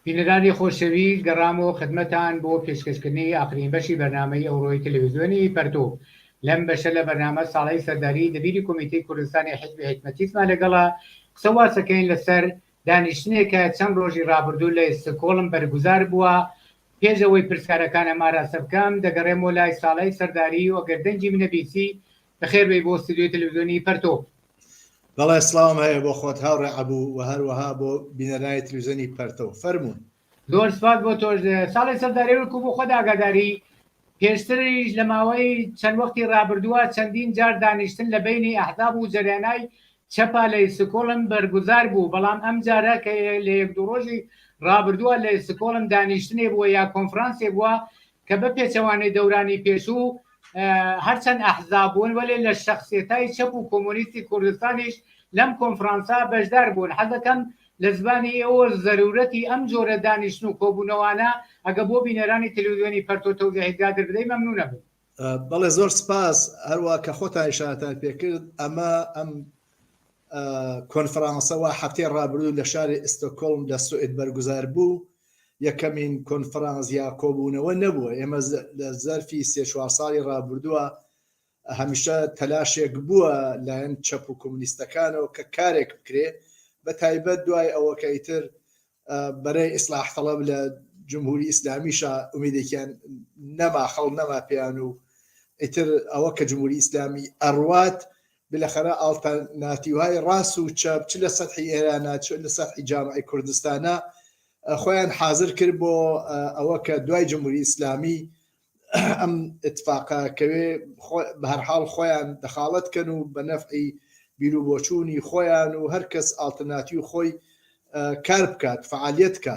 بینەرانی خۆشەوی گەڕامەوە خدمەتان بۆ پێشکەشکردنی ئاخرین بەشی بەرنامەی ئەوڕۆی تەلەویزیۆنی پەرتو لەم بەشە لە بەرنامە ساڵەی سەرداری دەبیری کۆمیتەی کوردستانی حیزبی حیکمەتیسمان لەگەڵە قسە واسەکەین لەسەر دانیشتنێکە چەند ڕۆژی ڕابردوو لە ئێستکۆڵم بەرگوزار بووە پێش ئەوەی پرسیارەکانم ئاراستە بکەم دەگەڕێمەوە لای ساڵەی سەرداری و ئەگەر دەنگی منە بیسی بەخێر بێی بۆ ستۆدیۆی تەلەڤزیۆنی پەرتۆک. بەڵێ سڵاوم هەیە بۆ خۆت هاوڕێ عەبوو و هەروەها بۆ بینەرانی تلویزیۆنی پەرتەو. فەرموون. زۆر سپاس بۆ تۆش. ساڵی سەرداری ورکو بۆ خۆت ئاگاداری، پێشتریش لە ماوەی چەند وەختی رابردووە چەندین جار دانیشتن لە بەینی ئەحزاب و جەریانای چەپا لە ئیستکۆڵم بەرگوزار بوو، بەڵام ئەمجارە کە لە یەک دوو رۆژی رابردووە لە ئیستکۆڵم دانیشتنێ بووە یا کۆنفرانسێ بووە کە بە پێچەوانەی دەورانی پێشوو هەر چەند ئەحزاب بوون وەلێ لە شەخسێتای چەپ و کۆمۆنیستی کوردستانیش لەم کۆنفرانسا بەشدار بوون حەزەکەم لە زبانی ئێوە زەرورەتی ئەم جۆرە دانیشتن و کۆبوونەوانە ئەگە بۆ بینەرانی تلویزیۆنی پەرتۆ تەوزیحی زیاتر بدەی مەمنون ئەبم. بەڵێ زۆر سپاس هەروا کە خۆتان ئیشارەتان پێکرد ئەمە ئەم کۆنفرانسەوە هەفتەی ڕابردوو لە شاری ئستۆکۆڵم لە سوئد بەرگوزار بوو یەکەمین کۆنفرانس یا کۆبوونەوە نەبووە ئێمە لە زەرفی سێ چوار ساڵی ڕابردووە هەمیشە تەلاشێک بووە لایەن چەپ و کۆمونیستەکانەوە کە کارێک بکرێ بە تایبەت دوای ئەوەکەی تر بەرەی ئیسلاح تەڵەب لە جمهوری ئیسلامیشە ئومیدێکیان نەما خەڵ نەما پێیان و ئیتر ئەوە کە جمهوری ئیسلامی ئەڕوات بلەخەرە ئاڵتەرناتیوهای ڕاس و چەپ چ لە سەتحی ئێرانە چ لە سەتحی جامعەی کوردستانە خۆیان حازر کرد بۆ ئەوە کە دوای جمهوری ئیسلامی ئەم اتفاقە کەوێ بە هەر حاڵ خۆیان دەخاڵەت کەن و بە نەفعی بیرو بۆچوونی خۆیان و هەر کەس ئاڵتەرناتیو خۆی کار بکات فعالیت کە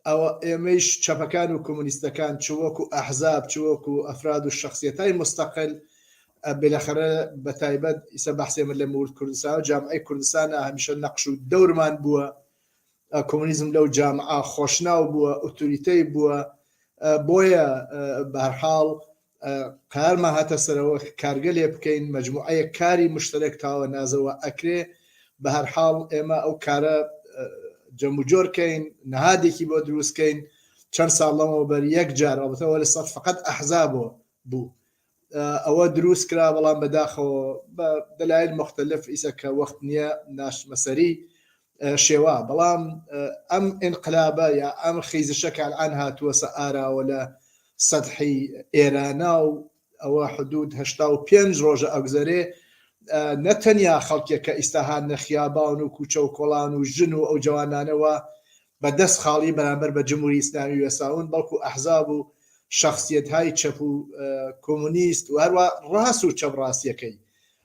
ئەوا ئێمەیش چەپەکان و کۆمۆنیستەکان چ وەکو ئەحزاب چ وەکو ئەفراد و شەخسیەتای موستەقل بێلەخەرە بەتایبەت ئیسە بەحسێ من لە مورد کوردستان و جامعەی کوردستانە هەمیشە نەقش و دەورمان بووە کۆمۆنیزم لەو جامعە خۆشناو بووە ئوتوریتەی بووە بۆیە بەرحاڵ قارمە هاتە سەرەوە کارگە لێ بکەین مجموعەیە کاری مشتەرێک تاوە نازەوە ئەکرێ بە هەرحاڵ ئێمە ئەو کارە جەموجۆرکەین نهادێکی بۆ دروستکەین چەند ساڵ لەمەوە بەر یەک جار ئەڵبتەوە لە سەر فقط ئەحزا بۆ بوو ئەوە دروست کرا بەڵام بەداخەوە بە دەلایل مختلف ئیسە کە وەخت نییە ناشمەسەری شێوا بەڵام ئەم ئینقلابە یا ئەم خیزشە کالعان هاتووەسە ئاراوە لە سەدحی ئێرانا و ئەوە حدود هشتا و پێنج ڕۆژە ئەگوزەرێ نەتەنیا خەڵکێک کە ئیساهان نەخیابان و کوچە و کۆڵان و ژن و ئەو جوانانەوە بە دەست خاڵی بەرامبەر بە جمهوری ئیسلامی وێساون بەڵکو ئەحزاب و شخصیت های چەپ و کۆمونیست و هەروە ڕاست و چەپ ڕاستیەکەی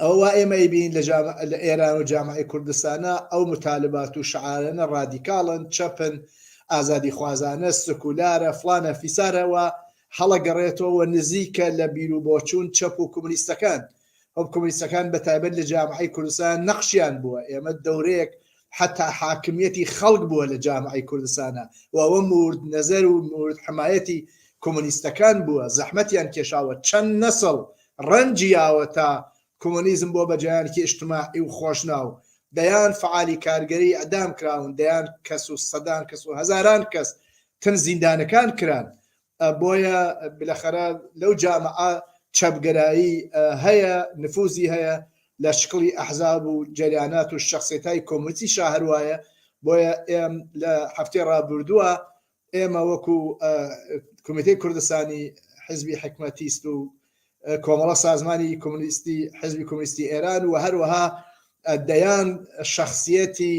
ئەوە وا ئێمە ئەیبینین لە جام لە ئێران و جامعی کوردستانە ئەو متالبات و شعارەنە ڕادیکاڵن چەپن ئازادی خوازانە سکولارە فلانە فیسارەوە هەڵەگەڕێتەوە نزیکە لە بیر و بۆچوون چەپ و کۆمونیستەکان ئەو کۆمونیستەکان بە تایبەت لە جامعی کوردستان نەخشیان بووە ئێمە دەورەیەک حتا حاکمیەتی خەڵک بووە لە جامعی کوردستانە و ئەوە مورد نەزەر و مورد حمایەتی کۆمونیستەکان بووە زەحمەتیان کێشاوە چەند نەسڵ ڕەنجی یاوەتا کۆمۆنیزم بۆ بە جەیانکی ئیشتماعی و خۆشناو، دەیان فەعالی کارگەری ئیعدام کراون، دەیان کەس و سەدان کەس و هەزاران کەس تن زیندانەکان کران. بۆیە بلەخەرە لەو جامعە چەپگەرایی هەیە، نفوزی هەیە لە شکڵی ئەحزاب و جەریانات و شەخسێتای کۆمۆنیستی شا هەروایە، بۆیە ئێم لە هەفتەی ڕابوردوە ئێمە وەکو کمیتەی کوردستانی حزبی حکمەتیست و کۆمەڵە سازمانی کۆمونیستی حزبی کۆمونیستی ئێران و هەروەها دەیان شخصیەتی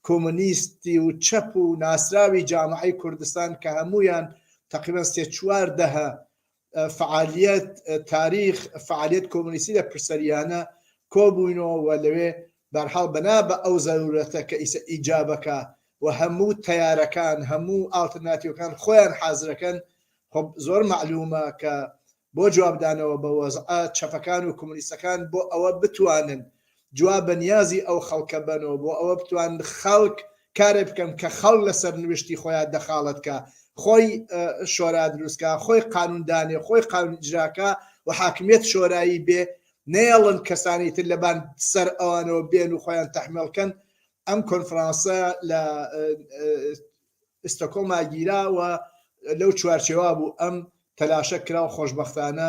کۆمونیستی و چەپ و ناسراوی جامعی کوردستان کە هەمویان تقریبا سێ چوار دەهە فەعالیەت، تاریخ، فەعالیەت کۆمۆنیستی لە پرسەریانە کۆ بووینەوە و لەوێ بە هەر حاڵ بەنا بە ئەو زەروورەتە کە ئیسە ئیجابەکە و هەموو تەیارەکان هەموو ئاڵترناتیوەکان خۆیان حازرەکەن خۆب زۆر مەعلوومە کە بۆ جوابدانەوە بە وەزعە چەپەکان و کۆمۆنیستەکان بۆ ئەوە بتوانن جواب بە نیازی ئەو خەڵکە بەنەوە بۆ ئەوە بتوانن خەڵک کارێ بکەن کە خەڵک لە سەرنوشتی خۆیان دەخاڵەت کا خۆی شۆرا دروست کا خۆی قانون دانێ خۆی قانون ئیجراکە و حاکمیت شۆرایی بێ نەیەڵن کەسانی تر لەبان سەر ئەوانەوە بێن و خۆیان تەحمێڵکەن ئەم کۆنفرانسە لە ئستۆکۆڵما گیرا و لەو چوارچێوا بوو ئەم تەلاشە کرا و خۆشببختانە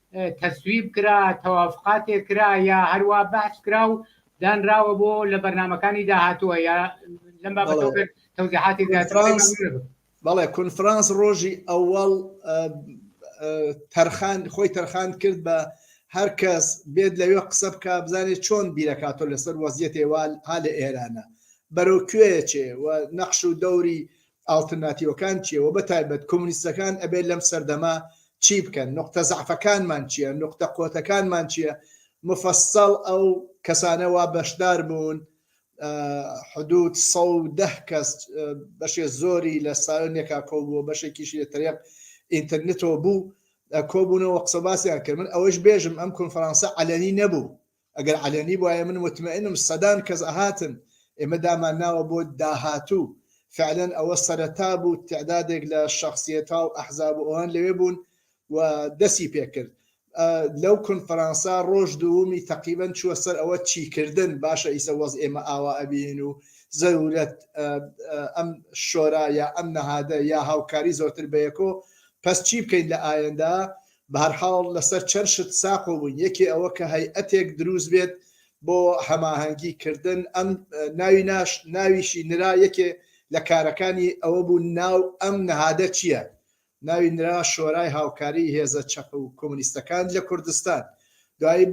تەسویب کرا، تەوافقاتێک کرا یا هەروا بەحس کرا و دانراوە بۆ لە بەرنامەکانی داهاتووە یا لەم بابەتەوە بێت تەوزیحاتێک زیاتر بکەی، کۆنفرانس مەمنون ئەبم. بەڵێ کۆنفرانس ڕۆژی ئەوەڵ ئە، ئە، تەرخان خۆی تەرخان کرد بە هەر کەس بێت لەوێ قسە بکا بزانێ چۆن بیرەکا تۆ لەسەر وەزیەتێ وا ها لە ئێرانە بەرەو کوێ ئەچێ و نەقش و دەوری ئاڵترناتیوەکان چیە وە بە تایبەت کۆمونیستەکان ئەبێت لەم سەردەمە چی بکەن نوقتە زەعفەکانمان چیە نوقتە قوتەکانمان چیە مفەسەڵ ئەو کەسانە وا بەشدار بوون حدود سەد و دە کەس بەشێ زۆری لە سایۆن یەکا کۆبووە بەشێکیشی لە تەریق ئینتەرنتەوە بوو کۆبوونەوە قسە باسیان کرد من ئەوەش بێژم ئەم کۆنفرانسە عەلەنی نەبوو ئەگەر عەلەنی بوایە من متمەئنم سەدان کەس ئەهاتن ئێمە دامان ناوە بۆ داهاتوو فعلەن ئەوە سەرەتا بوو تعدادێک لە شخصیەتا و ئەحزاب و ئەوان لەوێ بوون و دەسی پێکرد لەو کونفرانسا ڕۆژ دوومی تەقیبەن چووە سەر ئەوە چیکردن باشە ئیسە وەز ئێمە ئاوا ئەبین و زەرورەت ئەم شۆرا یا ئەم نەهادە یا هاوکاری زۆرتر بەیەکۆ پس چی بکەین لە ئایەندا بەهەرحاڵ لەسەر چەند شت ساقۆ بووین، یەکێ ئەوە کە هەیئەتێک دروست بێت بۆ هەماهەنگی کردن، ئەم ناوی ناش ناویشی نرا، یەکێ لە کارەکانی ئەوە بوو ناو ئەم نەهادە چییە؟ ناوی نرا شۆرای هاوکاریی هێزە چەپ و کۆمۆنیستەکان لە کوردستان، دوایی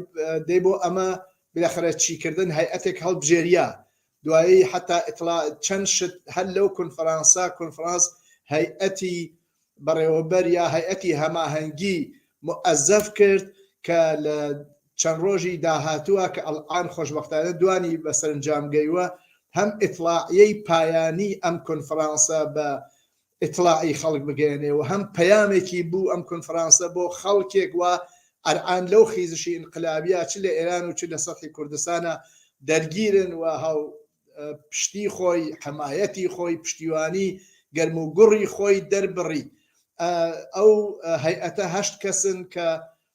دەی بۆ ئەمە بلەخرە چیکردن هەیئەتێک هەڵبژێریا، دوایی حەتا ئیتڵا چەند شت هەر لەو کونفرانسە کونفرانس هەیئەتی بەڕێوەبەر یا هەیئەتی هەماهەنگی موئەزەف کرد کە لە چەند ڕۆژی داهاتووە کە ئەڵعان خۆشبەختانە دوانی بە سەرنجام گەیوە هەم ئیتڵاعیەی پایانی ئەم کونفرانسە بە ئیتڵاعی خەڵک بگەیەنێ و هەم پەیامێکی بوو ئەم کونفرانسە بۆ خەڵکێک وا ئەرعان لەو خیزشی ئینقلابیە چ لە ئێران و چ لە سەتحی کوردستانا دەرگیرن و هاو پشتی خۆی حەمایەتی خۆی پشتیوانی گەرم و گوڕی خۆی دەربڕی ئەو هەیئەتە هەشت کەسن کە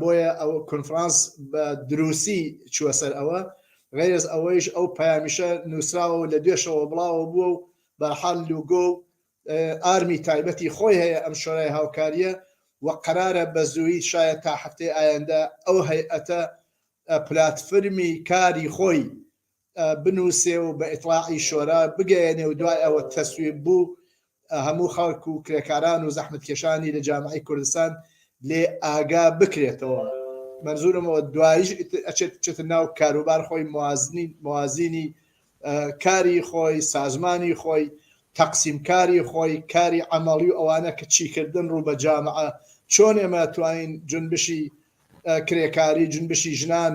بۆیە ئەو کونفرانس بە دروسی چووە سەر ئەوە، غەیرەز ئەوەیش ئەو پەیامیشە نوسراوە و لە دوێشەوە بڵاوە بووە و بەرحال لوگۆ و ئارمی تایبەتی خۆی هەیە ئەم شۆرای هاوکاریە و قەرارە بە زوویی شایە تا هەفتەی ئایەندە ئەو هەیئەتە پلاتفرمی کاری خۆی بنووسێ و بە ئیتڵاعی شۆرا بگەیەنێ و دوای ئەوە تەسویب بوو هەموو خەڵک و کرێکاران و زەحمەتکێشانی لە جامعەی کوردستان لێ ئاگا بکرێتەوە مەنزورم ئەوە دوایش ئەچێت بچێتە ناو کاروبار خۆی موازنی موازینی کاری خۆی سازمانی خۆی تەقسیم کاری خۆی کاری ئەمەڵی و ئەوانە کە چیکردن ڕوو بە جامعە چۆن ئێمە توانین جنبشی کرێکاری جنبشی ژنان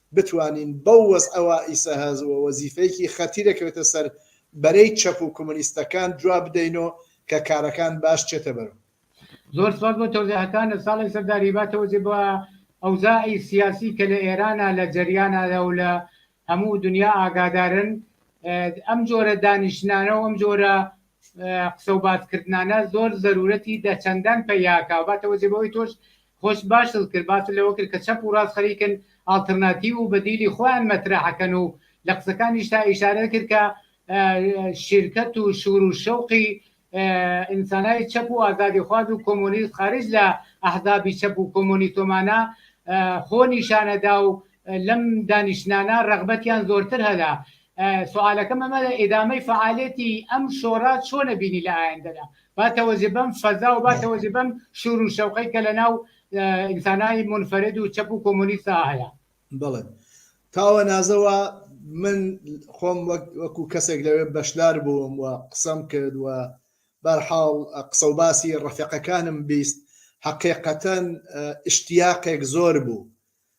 بتوانین بەو وەزعە وائیسە هەز و وەزیفەیەکی خەتیرە کەوێتە سەر بەرەی چەپ و کۆمۆنیستەکان جواب بدەینۆ کە کارەکان باش چێتە بەرو. زۆر سپاس بۆ تەوزیحەکانت ساڵح سەردار هیوا تەوزی بۆ ئەوزاعی سیاسی کە لە ئێرانا لە جەریانا دا و لە هەموو دنیا ئاگادارن ئەم جۆرە دانیشتنانە و ئەم جۆرە قسە و باس کردنانە زۆر زەرورەتی دە چەندان پە یاکە و باتە وە جێ بەوەی تۆش خۆش باشت کرد باست لەوە کرد کە چەپ و ڕاست خەریکن ئاڵترناتیو و بەدیلی خۆیان مەترەح کەن و لە قسەکانیشتا ئیشارەت کرد کە شیرکەت و شور و شەوقی ئینسانای چەپ و ئازادی خواز و کۆمۆنیست خارج لە ئەحزابی چەپ و کۆمۆنیتۆمانە خۆ نیشانەدا و لەم دانیشتنانە رەغبەتیان زۆرتر هەلە. سوالەکەم ئەمە ئیدامەی فەعالێتی ئەم شۆڕە چۆنە بینی لە ئایندەدا با تەوەجە بەم فەزا و با تەوەجە بەم شور و شەوقەی کە لەناو ئینسانای منفرد و چەپ و کۆمۆنیستا هەیە بڵێ تاوە نازەوە من خۆم وەکو کەسێک لەوێ بەشدار بووم و قسەم کرد و بەرحاڵ قسە و باسی ڕفێقەکانم بیست حقیقەتەن اشتیاقێک زۆر بوو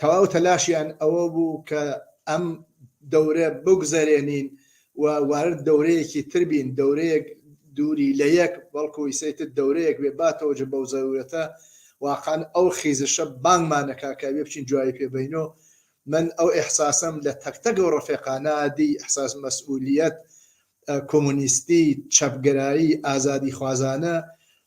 تەواو تەلاشیان ئەوە بوو کە ئەم دەورە بگوزەرێنین و وارد دەورەیەکی تر بین، دەورەیەک دووری لە یەک، بەڵکوو ئیسەیتر دەورەیەک بێ با تەوەجە بەو زەروورەتە واقعەن ئەو خیزشە بانگمان ئەکا کە ئەبێ بچین جوابی پێ بەینۆ. من ئەو ئیحساسەم لە تەک تەک ئەو ڕەفێقانا دی، ئیحساس مەسئوولییەت، کۆمۆنیستی، چەپگەرایی، ئازادیخوازانە،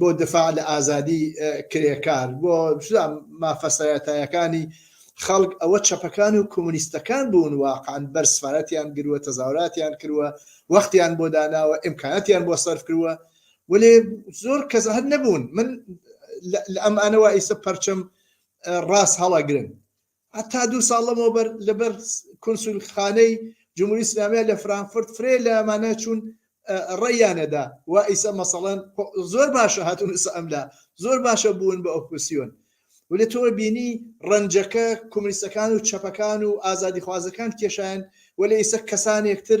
بۆ دفاع لە ئازادی کرێکار بۆ مافە سەرەتایەکانی خەڵک ئەوە چەپەکان و کۆمۆنیستەکان بوون واقعەن بەر سفارەتیان گروە تەزاوراتیان کروە وەختیان بۆ داناوە ئیمکاناتیان بۆ سەرف کروە وەێ زۆر کەس هەر نەبوون من لە ئەم ئانەوە ئیسە پەرچەم ڕاست هەڵەگرن هەتا دوو ساڵ لەمەوبەر لەبەر کونسولخانەی جمهوری ئیسلامیە لە فرانکفورت فرەیێ لە ئەمانە چوون ڕێیانەدا وا ئیسە مەسەڵەن زۆر باشە هاتون ئیسە ئەملا زۆر باشە بوون بە ئۆپسیۆن ولێ تۆ بینی ڕەنجەکە کومنیستەکان و چەپەکان و ئازادی خوازەکان کێشایان وەلێ ئیسە کەسانێکتر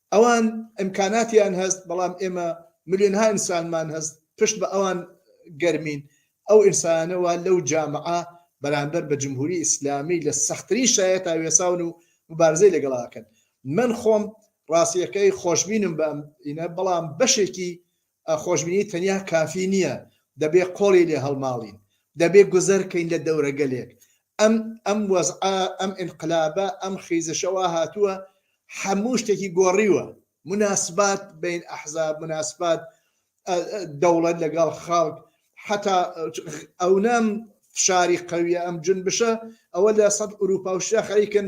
ئەوان ئیمکاناتیان هەست بەڵام ئێمە ملیۆنها ئینسانمان هەست پشت بە ئەوان گەرمین ئەو ئینسانانە وا لەو جامعە بەرامبەر بە جمهوری ئیسلامی لە سەختترین شایەتا وێساون و مبارزەی لەگەڵا ئەکەن من خۆم ڕاستیەکەی خۆشبینم بەم ئینە بەڵام بەشێکی خۆشبینی تەنیا کافی نییە، دەبێ قۆڵی لێ هەڵماڵین، دەبێ گوزەر کەین لە دەورەگەلێک. ئەم ئەم وەزعە، ئەم ئینقلابە، ئەم خیزشە وا هاتووە هەموو شتێکی گۆڕیوە. موناسبات بەین ئەحزاب، موناسبات دەوڵەت لەگەڵ خەڵک، حەتا ئەونە فشاری قەوییە ئەم جونبشە، ئەوە لە سەد ئورووپا و شا خەریکن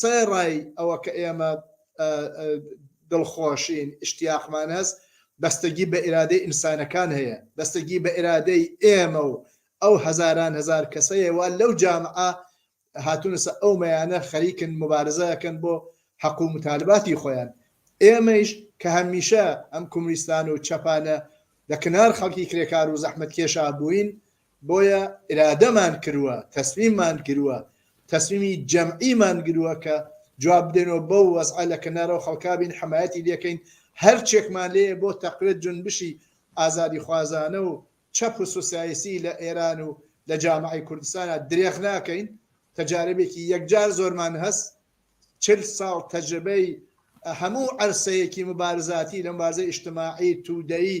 سەرەڕای ئەوە کە ئێمە دڵخۆشین، ئیشتیاقمان هەست، بەستگی بە ئیرادەی ئینسانەکان هەیە، بەستگی بە ئیرادەی ئێمە و ئەو هەزاران هەزار کەسە هەیە وا لەو جامعە هاتوونەسە ئەو مەیانە خەریکن موبارزە ئەکەن بۆ حەق و موتالباتی خۆیان. ئێمەیش کە هەمیشە ئەم کومنیستان و چەپانە لە کنار خەڵکی کرێکار و زەحمەتکێشا بووین، بۆیە ئیرادەمان کروە تەسمیممان گروە تەسمیمی جەمعیمان گروە کە جواب بدەینەوە بەو وەزعە لە کەنارەوە خەڵکا بین حەمایەتی لێکەین هەرچێکمان لێیە بۆ تەقوێت جونبشی ئازادیخوازانە و چەپ و سوسیایسی لە ئێران و لە جامعەی کوردستانە درێخ ناکەین تەجاربێکی یەکجار زۆرمان هەست چل ساڵ تەجربەی هەموو عەرسەیەکی مبارزاتی لە مبارزە ئیشتماعی تودەیی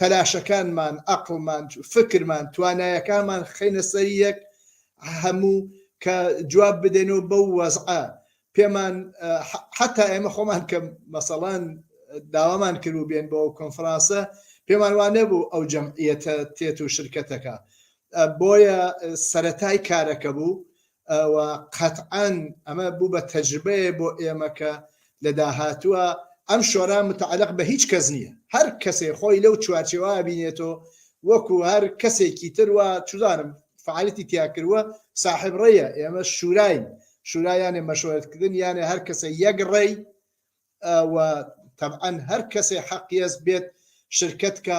تەلاشەکانمان ئەقڵمان فکرمان توانایەکانمان خەینە سەر یەک هەموو کە جواب بدەینەوە بەو وەزعە پێمان حتا ئێمە خۆمان کە مەسەڵان داوامان کرد و بێن بۆ کۆنفرانسە پێمان وانە بوو ئەو جەمعیەتە تێت و شرکەتەکە بۆیە سەتای کارەکە بوو ئەوە قەتعەن ئەمە بوو بە تەجربەیە بۆ ئێمە کە لە داهاتووە ئەم شۆرا متعلق بە هیچ کەس نییە هەر کەسێ خۆی لەو چوارچێوە بینێتەوە وەکو هەر کەسێکی تروە چودانم فعالەتی تیاکردوە ساحب ڕێە ئێمە شوراین شورایانێ مەشورەتکردن یانێ هەر کەسە یەک ڕێی و طبعا هەر کەسێ حەقیەز بێت شرکت کە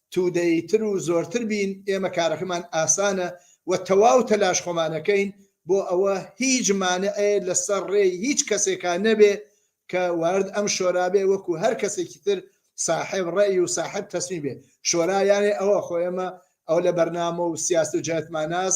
تودەی تر و زۆرتر بین ئێمە کارەکەمان ئاسانە وە تەواو تەلاش خۆمانەکەین بۆ ئەوە هیچ مانعێ لە سەر ڕێی هیچ کەسێکا نەبێ کە وارد ئەم شۆرا بێ وەکو هەر کەسێکی تر ساحێب ڕەئی و ساحێب تەسمی بێ شۆرا یانێ ئەوە خۆ ئێمە ئەو لە بەرنامە و سیاست و جەهتماناس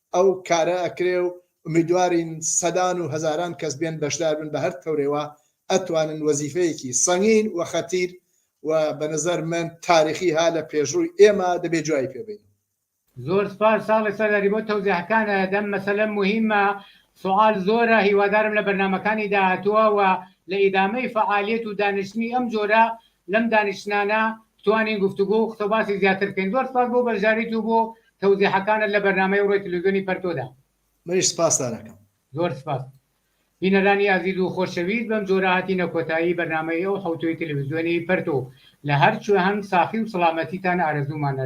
ئەو کارە ئەکرێ و ئومیدوارین سەدان و هەزاران کەس بێن بەشدار بن بە هەر تەورێوا ئەتوانن وەزیفەیەکی سەنگین و خەتیر و بە نەزەر من تاریخی ها لە پێشڕووی ئێمە دەبێ جوای پێ بین. زۆر سپاس ساڵح سەرداری بۆ تەوزیحەکانت ئەم مەسەلە موهیمە سوعال زۆرە هیوادارم لە بەرنامەکانی داهاتووە وە لە ئیدامەی فەعالیەت و دانیشتنی ئەم جۆرە لەم دانیشتنانە بتوانین گفتوگۆ و قسەوباسی زیاتر بکەین زۆر سپاس بۆ بەشداریت و بۆ تەوزیحەکانت لە بەرنامەی ڕوی تلوزیۆنی پەرتۆدا. منیش سپاستان ئەکەم. زۆر سپاس بینەرانی ئازیز و خۆشەویست بەم جۆرە هاتینە کۆتایی بەرنامەی ئەو حەوتووی تلویزیۆنی پەرتۆ لە هەر کوێ هەن ساخی و سڵامەتیتان ئارەزوومانە.